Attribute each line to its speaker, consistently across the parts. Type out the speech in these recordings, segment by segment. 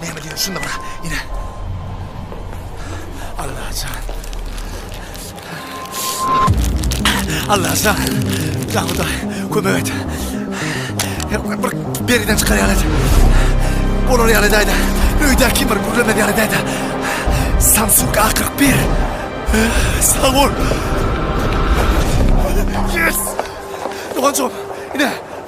Speaker 1: Näme diýýän şunda bura ine. Allajan. Allajan. Jan Hudaý, kömek et. Bir beriden çykar ýaly et. Bolar ýaly daýda. Öýdä kim bir gürlemez ýaly daýda. Samsung A41. Sag bol. Yes! Doganjygym, ine,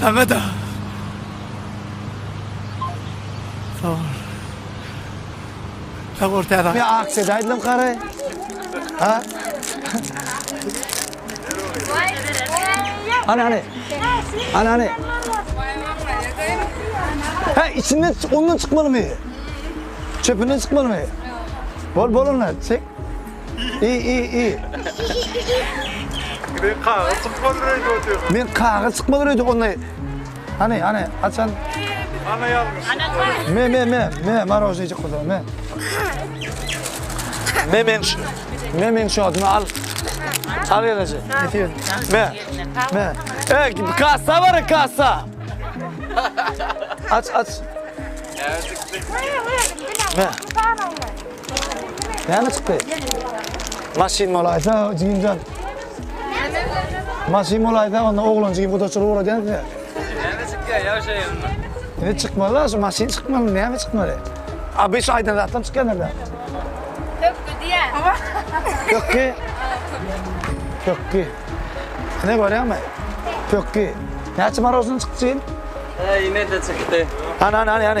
Speaker 1: Saňa-da. Sag bol. Sag bol täze. Men aksiýa daýdym kary.
Speaker 2: Ha? Ana ana. Ana ana. Ha içinden ondan çıkmaly mı? Çöpünden çıkmaly mı? Bol bol ondan çek. İ i i. Gide
Speaker 3: kagyz çykmaly röýde otyr. Men kagyz çykmaly
Speaker 2: röýde onday. Hani hani açan. Ana
Speaker 3: ýalňyş. Me me me
Speaker 2: me marojnejik kuzum me. Me men şu. Me men şu adyny al. Al ýalaje. Me. Me. E kassa bar kassa. Aç aç. Me. Näme çykdy? Maşyn bolaýsa, jigimjan. Maşyn bolaýsa, onda oglan jigim gudaçylyk uradýan size. Näme çykýar,
Speaker 3: ýagşaý onda. Ne çykmaly,
Speaker 2: şu maşyn çykmaly, näme çykmaly? Abi şu aýdan zatlam çykýar nerede? Hökki diýä. Hökki? Hökki. Ne görýäňmi? Hökki. Näçe marožny çykdy? Ýene-de
Speaker 3: çykdy. Ana, ana, ana, ana.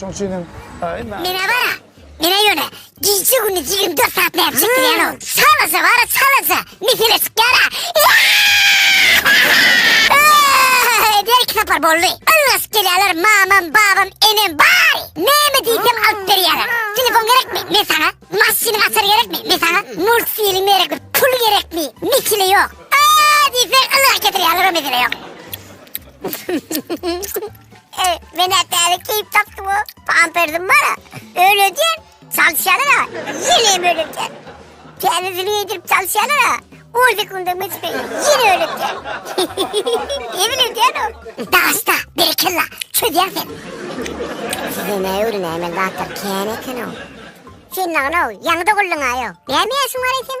Speaker 2: Şoň üçin hem Menä bara,
Speaker 4: menä ýöne gije gündiz ýigirmi dört saat nädip çekdirýänow? Salasa bara salasa, mesele çykýara. Öýde iki sapar boldy. Ylgaşyp gelýärler mamam, babam, enem bar. Näme diýsem alyp berýärler. Telefon gerekmi? Men saňa. Maşynyň açary gerekmi? Men saňa. Multfilm gerekmi? Pul gerekmi? Mesele ýok. Aa diýseň ylgaşyp getirýärler o mesele ýok. He, men ätäli keýp tapdym o. Pampersim bar, öýledi, çalyşýarlar ha. Ýene öýledi. Täzesini geýdirip çalyşýarlar ha. On sekundyň geçip, ýene öýledi. Emin öýdýän o. Dagasta, berekella, çözýäň sen. Size näme öwrenýän, men zatlar kän eken o. Sen nagna o, ýaňy doguldyň aýo. Näme ýaşyň bar eýsem?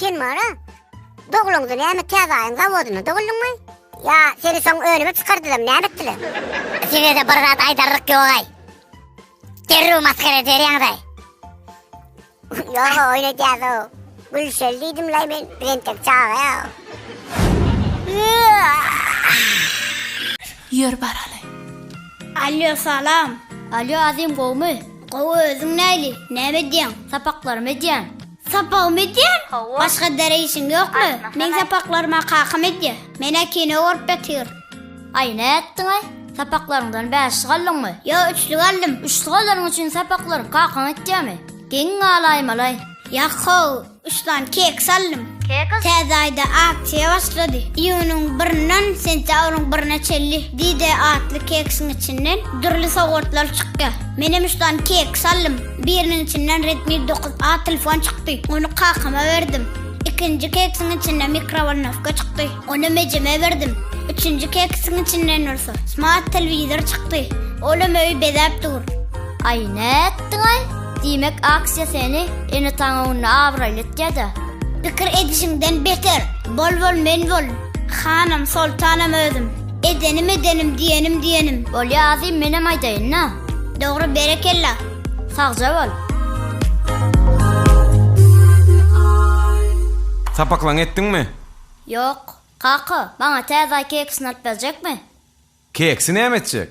Speaker 4: Sen mara dogluňda näme täzaýyň zawodynda doguldyňmy? Ýa seni soň önüme çykardylar, näme etdiler? Size-de bir zat aýdarlyk ýogaý. Derrew masgara ederýaňyzaý. Ýoga oýun edýäs-ow. Gülşeli diýdim-laý men, bir entek çaga-ýa.
Speaker 5: Ýör baraly. Alýo,
Speaker 6: salam. Alýo, Azim
Speaker 5: gowumy? Gowy, özüň
Speaker 6: näli? Näme edýäň? Sapaklarymy edýän.
Speaker 5: Sapagym edýän?
Speaker 6: Hawa. Başga dere işiň ýokmy? Men sapaklaryma kakam edýär. Menä kino görüp ýatyr. Aý,
Speaker 5: nätdiň-aý? Sapaklaryňdan bäşlik aldyňmy? Ýok, üçlük aldym.
Speaker 6: Üçlük alanyň üçin
Speaker 5: sapaklary kakaň etýärmi? Geň
Speaker 6: galaýmalaý. Ýa-how, üç
Speaker 5: sany keks aldym. Keks?
Speaker 6: Täze aýda aksiýa başlady. Iýunyň birinden sentýabryň birine çenli D-Day atly keksiň içinden dürli sowgatlar çykýar. Menem üç sany keks aldym. Biriniň içinden Redmi dokuz A telefon çykdy. Ony kakama berdim. Ikinji keksiň içinde mikrowolnowka çykdy. Ony mejeme berdim. Üçünji keksiň içinden bolsa smart telewizor çykdy. Olam öýi bezäp dur. Aý,
Speaker 5: nätdiň-aý? Diýmek, aksiýa seni ene-ataň öňünde abraýly etýä-dä. Pikir
Speaker 6: edişiňden beter. Bol-bol men bol. Hanym, soltanym özüm. Edenim edenim diýenim diýenim. Bolýa azym menem
Speaker 5: aýdaýynda. Dogry berekella.
Speaker 6: Sagja bol.
Speaker 7: Sapaklaň etdiňmi? Ýok.
Speaker 5: Kaka, maňa täze aý keksini alyp berjekmi? Keksi
Speaker 7: näme etjek?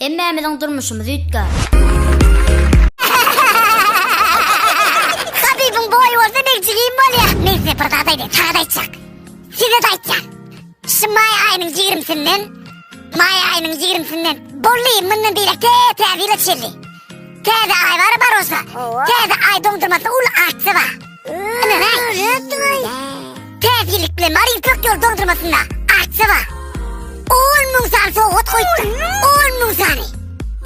Speaker 7: Hemmämiziň
Speaker 5: durmuşymyz üýtgär.
Speaker 4: Habibiň boýy bolsa begjik iýip bolýa. Men size bir zat aýdaýyn, saňa-da aýtjak. Size-de aýtýan. Şu maý aýynyň ýigrimisinden, maý aýynyň ýigrimisinden bolly mundan beýläk tä-täze ýyla çenli. Täze aý bar Barosga. Täze aý doňdurmasy uly artsa bar. Ynana. Täze ýyllyk bilen bar ýüpek ýol doňdurmasynda artsa bar. 10 müň san sowgat goýupdyr. 10 müň sany.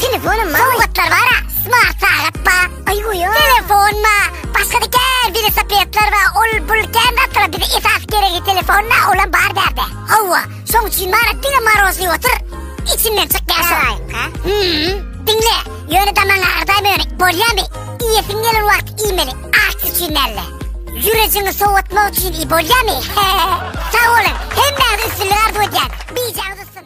Speaker 4: Telefonym bar. Sowgatlar bar. Smart sagat bar. Ay goýa. Telefon bar. Başga da gel bir sapetler bar. Ol bul gel atla bir esas gerek telefon bar. Olam bar derde. Hawa. Şoň üçin Marat diňe marozly otur, içinden çyk ýaşalaýyňka. Hmm, diňle, ýöne damaň agyrdaýmy ýöne, bolýamy? Iýesiň gelen wagt iýmeli, aç üçin dälde. Ýürejiňi sowatmak üçin iý, bolýamy? Sag boluň, hemmäňize üstünlik arzuw edýän. Bijaňyz ussyn.